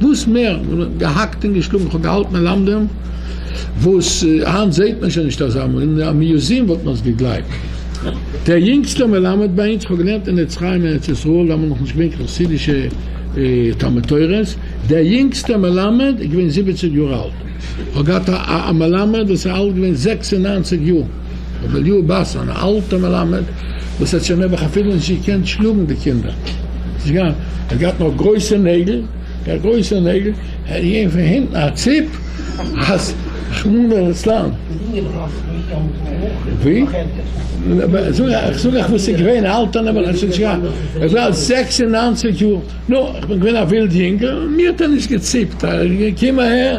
וואס מער מען האט געהאקט און געשלאגן, כ'האב געהאלטן מלמדים וואס היינט זעט מען שוין נישט אזא, אין א מיוזיעם וואלט מען עס געגלייבט. דער יונגסטער מלמד ביי אונז, כ'האב געלערנט אין עץ חיים ארץ ישראל, דאן האבן מיר נאכנישט געווען קיין חסידישע תלמוד תורה'ס, דער יונגסטער מלמד איז געווען זיבעציג יאר אלט, כ'האב געהאט א מלמד וואס איז אלט געווען זעקס און נײַנציק יאר. רבי אליהו באס, אן אלטער מלמד וואס האט שוין נעבעך אפילו נישט געקענט שלאגן די קינדער, ער האט געהאט נאר גרויסע נעגל, גאר גרויסע נעגל, ער האט געגעבן פון הינטן א ציפ אז רחמנא ליצלן. איך זאג אייך וואס איז געווען, א אלטער נעבעך האט שוין נישט געהאט, ער איז אלט זעקס און נײַנציק יאר, נו, איך בין געווען א ווילד יונגל, מיר האט ער נישט געציפט, ער איז געקומען אהער.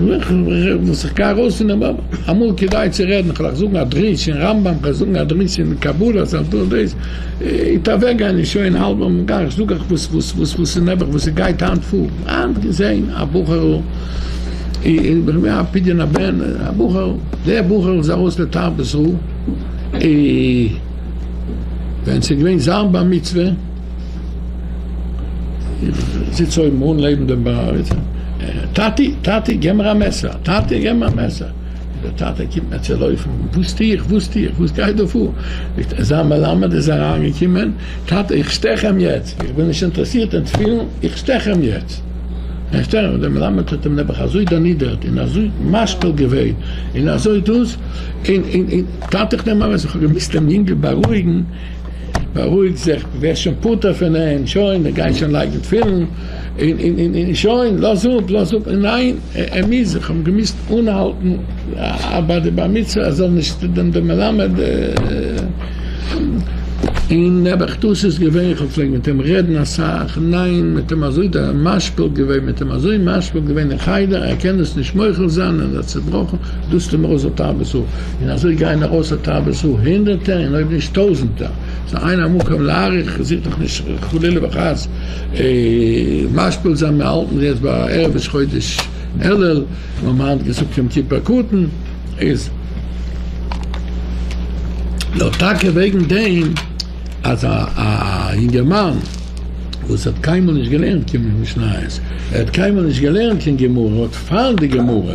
וואס איך גיי ארויס פון דעם באבל, אמאל כדאי צו רעדן, איך וועל זאגן א דרוש אין רמב ם, איך וועל זאגן א דרוש אין קבלה, איך וועל טון דאס, איז אוועק גיין אין שוין האלב אן מיט גיין, איך זאג אייך וואס וואס וואס וואס איז נעבעך וואס ס'גייט היינט פאר, היינט געזען א בחור'ל, אין א פדיון הבן, א בחור, דער בחור איז ארויס לתרבות רעה, ווען ס'איז געווען זיין בר מצוה, זיץ אויבן אן לעבן דעם בארעדער. טאטי! טאטי! געב מיר א מעסער! טאטי! געב מיר א מעסער! דער טאטע קומט מיר צו לויפן. וואס טו איך? וואס טו איך? וואס גייט דא פאר? זאגט ער, זיין מלמד איז אריין געקומען. טאטע! איך שטעך אים יעצט! איך בין נישט אינטערעסירט אין תפילין, איך שטעך אים יעצט! איך שטעך אים! דער מלמד האט אים נעבעך אזוי דערנידערט און אזוי משפיל געווען און אזוי דאס, און און און טאטע! איך נעם א מעסער! איך האב געמוזט דעם יונגל בארואיגן. בארואיג זיך, דו ווערסט שוין פטור פון אים, שוין, ער גייט שוין לייגן תפילין, און שוין, לאז אפ, לאז אפ, ניין, ער מוז, איך האב געמוזט אנהאלטן ביי די בר מצוה, ער זאל נישט דעם דעם מלמד, און נעבעך דאס איז געווען, איך האב געפלעגט מיט אים רעדן אסאך, ניין, מיט אים אזוי משפיל געווען, מיט אים אזוי משפיל געווען אין חדר, ער קען דאס נישט מוחל זיין, ער איז א צעבראכן, דאס טו מיר אויס די תאוות האב. און אזוי גייען ארויס א תאוות זו הונדערטער און אויב נישט טויזענטער, ס'איז איין א מקום להאריך, איך זיך דאך נישט חלילה וחס משפיל זיין, מיר האלטן זיך יעצט ביי ערב ראש חודש אלול, מיר האבן היינט געזאגט יום כיפור קטן, איז דאך טאקע וועגן דעם אז א יונגערמאן וואס האט קיינמאל נישט געלערנט קיין משניות, ער האט קיינמאל נישט געלערנט קיין גמרא, האט פאר די גמרא,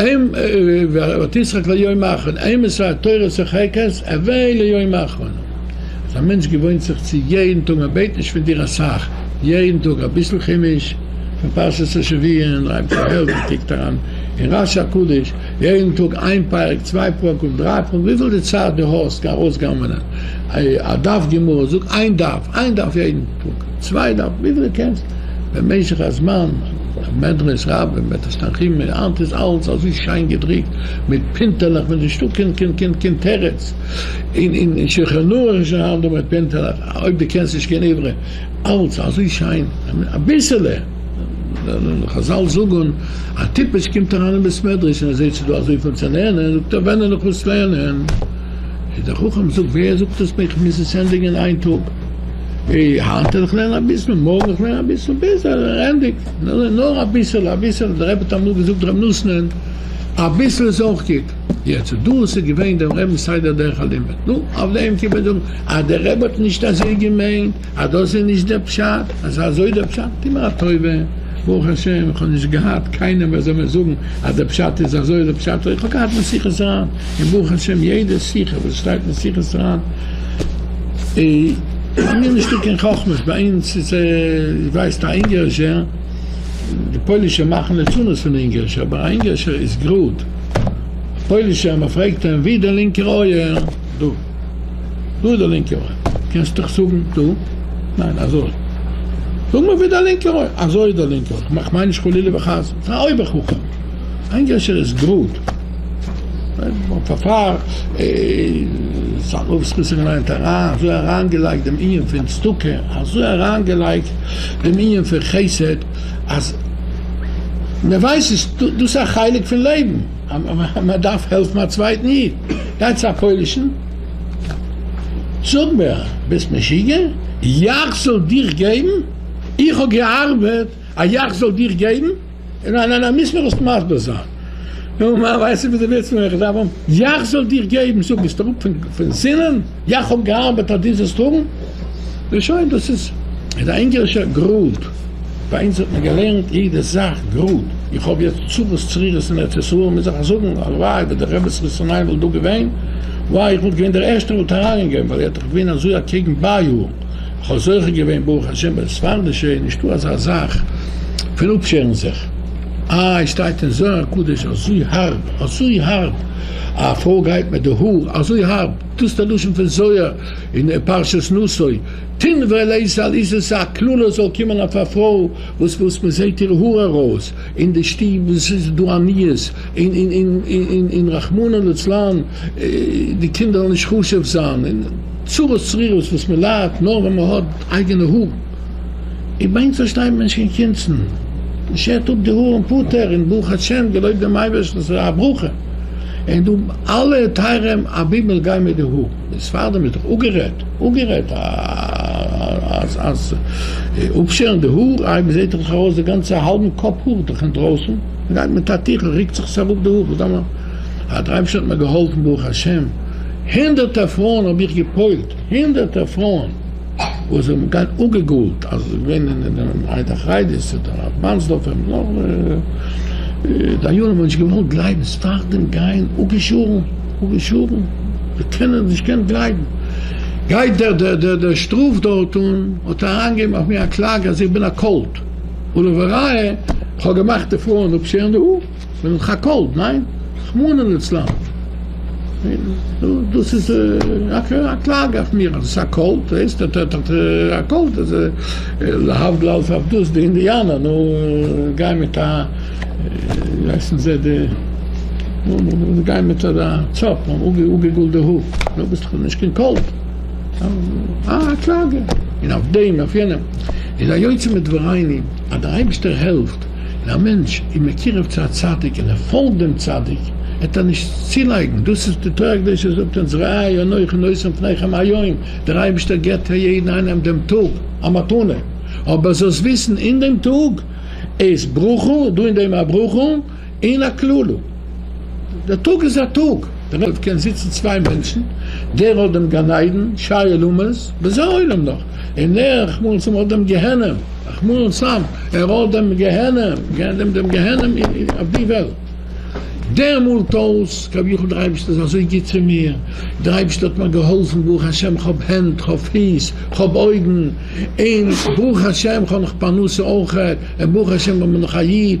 אם ותשחק ליום האחרון, אם מסע התורה שוחק את עברי ליום האחרון, אז א מענטש געוואוינט זיך צו יעדן טאג, מען בעט נישט פון דיר אסאך, יעדן טאג אביסל חומש, פון פרשת השבוע און רייבט זיך העלט און קוקט אריין אין רש הקדוש, יעדן טאג איין פרק, צוויי פרקים, דריי פרקים, וויפיל די צייט דו האסט, גיי ארויס גנב'נען א דף גמרא, זאג איין דף, איין דף יעדן. פונקט צוויי דארף ווידער געקענסלט במשך הזמן, מדרש רבה, מדרש תנחומא, היינט איז אלס אזוי שיין געדריקט מיט פינטעלעך מען איז נישטא קיין קיין קיין קיין תירוץ, אין אין שולחן ערוך איז שוין היינט דא מיט פינטעלעך אויב די קענסט נישט קיין עברי, אלס אזוי שיין אביסעלע, חזל זאגען א טיפש קומט אריין אין בית מדרש און ער זעהט ס'איז דא אזויפיל צו לערנען זאגט ער ווען און איך מוז לערנען, איז דער חכם זאגט ווער זאגט עס מיר איך מוז עס ענדיגען אין איין טאג. היינט וועל איך לערנען אביסל, מארגן וועל איך לערנען אביסל, ביז ער ענדיגט, נאר אביסל, אביסל, דער רבי האט אמאל געזאגט ר' נתנאל, אביסל איז אויך גוט. יעצט, דאס איז געווען דעם רבינ'ס סדר דרך הלימוד. נו, אויף דעם קען מען זאגן אז דער רבי האט נישט אזוי געמיינט, אז דאס איז נישט דער פשט, אז אזוי דער פשט, טו מיר א טובה, ברוך השם, איך האב נישט געהאט קיינעם ווער זאל מיר זאגן אז דער פשט איז אזוי, דער פשט איז אזוי, איך האב געהאט משיחת רן, און ברוך השם יעדע שיחה וואס שטייט משיחת רן, א מיר נישטא קיין חכמות ביי אונז איז ווייסט א אונגארישער די פוילישע מאכן לצנות פון די אונגארישע אבער א אונגארישער איז גראד א פוילישער מען פרעגט אים ווי די לינקע אויער דא דא די לינקע אויער קענסט דיך זאגן דא ניין אזוי זאג מיר ווי די לינקע אויער אזוי איז די לינקע אויער כ'מיין נישט חלילה וחס פאר א אויבער חכם א אונגארישער איז גראד. פארפאר איז א רב זכותו געלייגט אריין אזוי אריינגעלייגט דעם ענין פון צדקה אזוי אריינגעלייגט דעם ענין פון חסד אז מען ווייסט עס דאס איז א חלק פון לעבן אז מען דארף העלפן א צווייטן איד, גייט צו א פוילישן זאג מיר ביסט משוגע יאך זאל דיך געבן איך האב געארבעט א יאך זאל דיך געבן? ניין ניין ניין מוזט מיר עס מסביר זיין. נו מה ווייסט איר וואס די ווילסט פון מיר איך דארף האבן? יאך זאל דיר געבן זאג ביסט אראפ פון סינען? יאך האב געארבעט אז דו זאלסט האבן? נו שוין דאס איז איז א אונגערישער גראד ביי אונז האט מען געלערנט יעדע זאך גראד איך האב יעצט צרות צרירות אין ארץ ישראל מוז איך עס זאגן הלוואי ווען די רעבעס רוסענען וואלט דא געווען וויי איך וואלט געווען דער ערשטער וואלט אריין געגעבן ווייל ער האט דאך געווען אזוי אקעגן ביי א כ'האב זוכה געווען ברוך השם ביי די ספרדישע איז נישטא אזא זאך פון אפשערן זיך, איי שטייט אין זוהר הקדוש אזוי הארב אזוי הארב א פרוי גייט מיט די האר אזוי הארב, דאס איז די לשון פון זוהר אין פרשת נשא, תן ולעיס על אישה ס'איז א קללה זאל קומען אויף א פרוי וואס וואס מען זעהט איר האר ארויס אין די שטוב וואס איז דא עניות אין רחמנא לצלן. די קינדער זאלן נישט חושב זיין אין צרות צרורות וואס מען ליידט נאר ווען מען האט אייגענע האר, און ביי אונז פארשטייט מען נישט קיין קונצן, מען שערט אפ די האר און פוטער און ברוך השם געלויבט דעם אייבערשטן ס'איז א ברכה, און דא אלע טייערע אבימל גייען מיט די האר, די ספרדים איז דאך אפגערעדט אפגערעדט אז אז אפשערן די האר, איי מען זעט דאך ארויס די גאנצע האלבן קאפ האר איז דאך אינדרויסן, מען גייט מיט א טיכל רוקט זיך עס אראפ די האר, וואס דארף מען. א דרייוו ס'האט מיר געהאלפן ברוך השם, הונדערטער פרויען האב איך גע'פועל'ט, הונדערטער פרויען וואס זענען געווען אפגע'גאול'ט אז זיי וואוינען אין דעם עדה חרדית אדער רב מאנסדארפער און נאך דיינים האבן נישט געוואלט גלייבן, ס'איז פארדעם געוען אפגעשווארן, אפגעשווארן, זיי קענען נישט געקענט גלייבן, גייט דער דער דער דער שטראף דארט און האט אריינגעגעבן אויף מיר א קלאגע אז איך בין א קולט, ולראיה כ'האב געמאכט די פרויען אפשערן די האר. מען האט געקאלט, ניין? רחמנא לצלן. דאס איז א קלאגע אויף מיר אז עס איז א קולט, דו הערסט אט אט אט א קולט, איז להבדיל אלף הבדלות די אינדיאנער, נו, גייען מיט א, ווי הייסן זיי די, נו, נו, נו, זיי גייען מיט א צאפ, אפגעגאלדע האר, נו, ביסט דאך נישט קיין קולט. א קלאגע, און אויף דעם און אויף יענעם. איז היוצא מדבריני אז דער אייבערשטער העלפט. ווען א מענטש איז מקורב צו א צדיק און ער פאלגט דעם צדיק, העט ער נישט צולייגן, דאס איז די תורה הקדושה זאגט אונז ראה אנכי נותן לפניכם היום, דער אייבערשטער געבט פאר יעדן איינעם דעם טאג א מתנה, אבער זאלסט וויסן אין דעם טאג איז ברכה, דא אין דעם א ברכה און א קללה, דער טאג איז א טאג, דערויף קען זיצן צוויי מענטשן, דער האט דעם גן עדן שי עולמות, וזה עולם נח, און ער רחמנא לצלן האט דעם גיהנום. חמור סם, ער האט דעם גיהנום, געהערט דעם דעם גיהנום אויף די וועלט. דער מאלט אויס, כביכול דער אייבערשטער איז אזוי גוט צו מיר, דער אייבערשטער האט מיר געהאלפן, ברוך השם כ'האב הענט, כ'האב פיס, כ'האב אויגן, און ברוך השם כ'האב נאך פרנסה אויכעט, און ברוך השם כ'בין נאך א איד,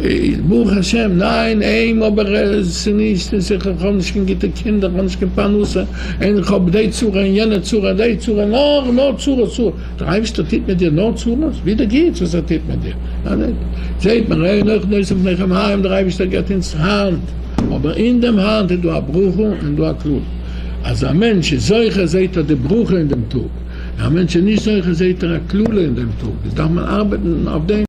איז ברוך השם ניין עהם אבער עס איז נישט אין שכל איך האב נישט קיין גוטע קינדער איך האב נישט קיין פרנסה אין איך האב דעי צרה אין יענע צרה אין דעי צרה נאר נאר צרות צרות דער אייבערשטער טוט מיט דיר נאר צרות ווי די גוטס וואס ער טוט מיט דיר זעהט מען ראה נח נושא פניכם הים דער אייבערשטער גיבט אונז האנט אבער אין דעם האנט איז דא א ברכה און דא א קללה אז א מענטש איז זוכה זעהט ער די ברכה אין דעם טאג א מענטש איז נישט זוכה זעהט ער א קללה אין דעם טאג דאס דארף מען ארבעטן אויף דעם.